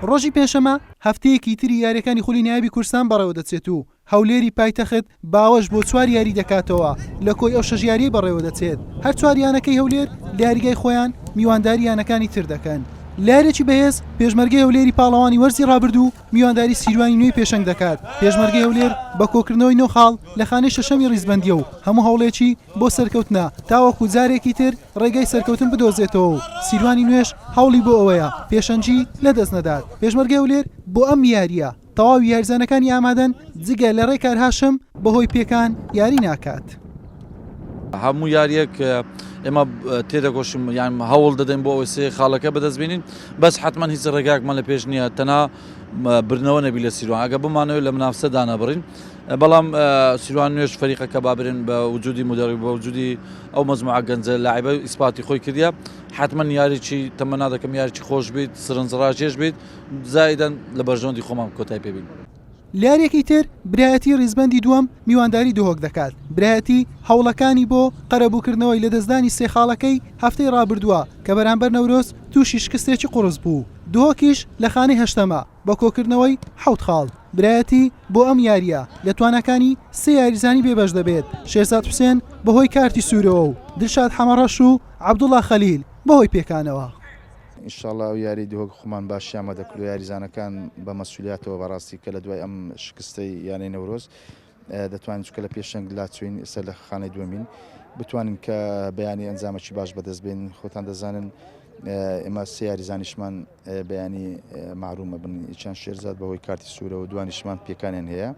ڕۆژی پێنجشەممە هەفتەیەکی تری یارییەکانی خولی نایابی کوردستان بەڕێوەدەچێت و هەولێری پایتەخت باوەش بۆ چوار یاری دەکاتەوە لە کۆی ئەو شەش یارییەی بەڕێوەدەچێت هەر چوار یانەکەی هەولێر لە یاریگای خۆیان میوانداری یانەکانی تر دەکەن لە یاریێکی بەهێز پێشمەرگەی هەولێری پاڵەوانی وەرزی ڕابردوو میوانداری سیروانی نوێی پێشەنگ دەکات پێشمەرگەی هەولێر بە کۆکردنەوەی نۆ خاڵ لە خانەی شەشەمی ڕیزبەندییە و هەموو هەوڵێکی بۆ سەرکەوتنە تاوەکو جارێکی تر ڕێگای سەرکەوتن بدۆزێتەوە و سیروانی نوێش هەوڵی بۆ ئەوەیە پێشەنگی لەدەست نەدات، پێشمەرگەی هەولێر بۆ ئەم یارییە تەواوی یاریزانەکانی ئامادەن، جگە لە ڕێکار هاشم بەهۆی پێکان یاری ناکات. هەموو یارییەک ئێمە تێدەکۆشین یان هەوڵ دەدەین بۆ ئەوەی سێ خاڵەکە بەدەست بێنین، بەس حەتمەن هیچ ڕێگایەکمان لە پێش نییە تەنها بردنەوە نەبی لە سیروان، ئەگەر بمانەوێت لە منافسە دانەبڕین بەڵام سیروان نوێژ فەریقەکە با برێن بە وجودی مدەڕی بە وجودی ئەو مەزموعە گەنجە لاعیبە ئیسپاتی خۆی کردە حتمما یاریی تەمەنا دەکەم یاریی خۆش بیت سرنجڕاکێش بیت زایدەن لە بەرژەوەندی خۆمان کۆتای پێبین. لە یارییەکی تر برایەتی ریزبەندی دووەم میوانداری دهۆک دەکات، برایەتی هەوڵەکانی بۆ قەرەبووکردنەوەی لەدەستدانی سێ خاڵەکەی هەفتەی رابردووە کە بەرامبەر نەورۆز تووشی شکستێکی قوڕس بوو، دهۆکیش لە خانەی هەشتەمە. بە کۆکردنەوەی حەوت خاڵ برایەتی بۆ ئەم یارییە لە تواناکانی سێ یاریزانی بێبەش دەبێت، شێرزاد حوسێن بەهۆی کارتی سوورەوە و دلشاد حەمەڕەش و عەبدوڵا خەلیل بەهۆی پێکانەوە. ان شاء اللە ئەو یاری دهۆک خومان باشیان بە دەکردو یاریزانەکان بە مەسولیاتەوە بەراستی کە لە دوای ئەم شکستەی یانەی نەورۆز. دەتوانین چونکە لە پێشەنگ لاچوین ئێستا لە خانەی دووەمین بتوانین کە بەیانی ئەنجامەکی باش بەدەست بێن خۆتان دەزانن ئێمە سێ یاریزانیشمان بەیانی معرومە بن چەند شێرزاد بەهۆی کارتی سوورەوە دوانیشمان پێکانیان هەیە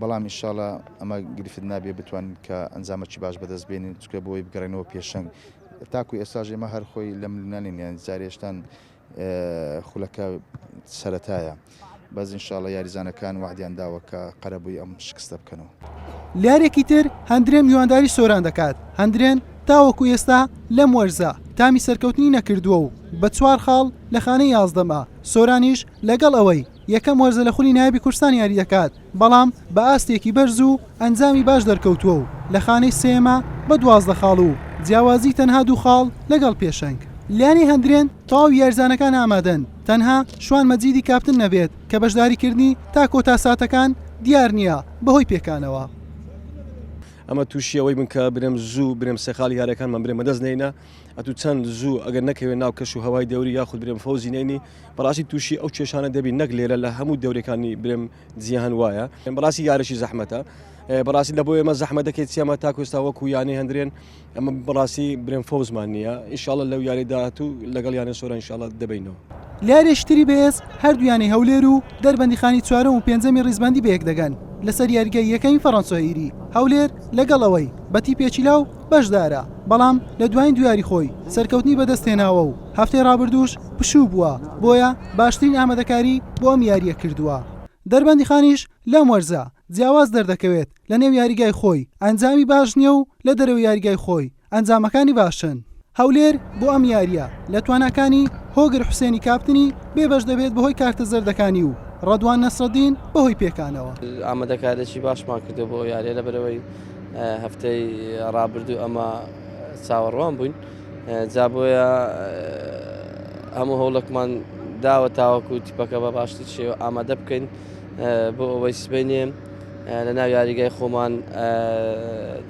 بەڵام ئیشاڵە ئەمە گرفت نابێ بتوان کە ئەنجامەکی باش بەدەست بێنین چکە بۆی بگەڕێنەوە پێشەنگ تاکو ئێساژێمە هەرخۆی لەم لونانین یان زارێشتان خولەکە سەرەتایە بەس انشاءاللە یاریزانەکان وەعدیان داوە کە قەرەبووی ئەم شکستە بکەنەوە. لەیارێکی تر هەندرێن میوانداری سۆران دەکات، هەندرێن تاوەکو ئێستا لەم وەرزە تامی سەرکەوتنی نەکردووە و بە چوار خاڵ لە خانەی یازدەمە، سۆرانیش لەگەڵ ئەوەی، یەکەم وەرزە لە خولی نایابی کوردستان یاری دەکات، بەڵام بە ئاستێکی بەرز و ئەنجامی باش دەرکەوتووە و لە خانەی سێیەمە بە دوازدە خاڵ و جیاوازی تەنها دوو خاڵ لەگەڵ پێشەنگ. لانەی هەندرێن تەواوی یاریزانەکان ئامادەن، تەنها شوان مەجیدی کاپتن نەبێت کە بەشداریکردنی تا کۆتا ساتەکان دیار نییە بەهۆی پێکانەوە. ئەمە تووشی ئەوەی بن کە برێم زوو برێم سێ خاڵی یاریەکانمان برێم بەدەست نەینە ئەتوو چەند زوو ئەگەر نەکەوێت ناو کەش و هەوای دەوری یاخود برێم فەوزی نەینی. بەڕاستی تووشی ئەو کێشانە دەبین نەک لێرە لە هەموو دەورەکانی برێم جیهان وایە بەڕاستی یارشی زەحمەتە بەڕاستی لە بۆ ئێمە زەحمە دەکەێت چێمە تاکوستا وەکو یانەی هەندرێن ئەمە بەڕاستی برێن فۆزمان نییە ئیشاڵە لەو یاری داهات و لەگەڵ یانە سۆرە انشاءڵە دەبینەوە لارێشتری بێز هەردوویانی هەولێر و دەربەندیخانی چوارم و پێنجەمی ڕیزبندی بەیەک دەگەن لەسەر یاریگای یەکەین فەڕەنسۆئیری هەولێر لەگەڵەوەی بەتی پێچیلا و بەشدارە، بەڵام لە دوایین دویاری خۆی سەرکەوتنی بەدەستهێناوە و هەفتەی رابردووش پشوو بووە، بۆیە باشترین ئامادەکاری بۆ ئەم یارییە کردووە. دەربەندیخانیش لەم وەرزە جیاواز دەردەکەوێت، لەنێو یاریگای خۆی ئەنجامی باش نییە و لە دەرەوەی یاریگای خۆی ئەنجامەکانی باشن. هەولێر بۆ ئەم یارییە لە تواناکانی هۆگر حوسێنی کاپتنی بێبەش دەبێت بەهۆی کارتە زەردەکانی و رەدوان نەسرەدین بەهۆی پێکانەوە. ئامادەکاریی باشمان کردووە بۆ ئەو یارییە لەبەرئەوەی. هەفتەی ڕابردوو ئەمە چاوەڕوان بووین جا بۆیە هەموو هەوڵکمان داوە تاوەکو تیپەکە بە باشتر شێوە ئامادە بکەین بۆ ئەوەی سبینێ لە ناو یاریگای خۆمان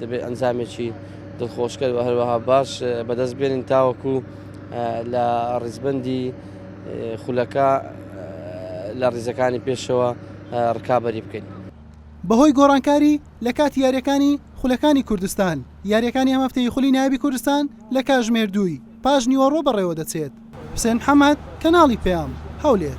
دەبێت ئەنجامێکی دڵخۆشکەر و هەروەها باش بەدەست بێنین تاوەکو لە ڕیزبندی خولەکە لە ڕیزەکانی پێشەوە ڕکابی بکەین بەهۆی گۆڕانکاری لە کاتی یاریەکانی خولەکانی کوردستان، یاریەکانی ئەم هەفتەی خولی نایابی کوردستان لە کاژمێر دووی پاش نیوەڕۆ بەڕێوەدەچێت. حوسێن محەمەد، کەناڵی پەیام، هەولێر.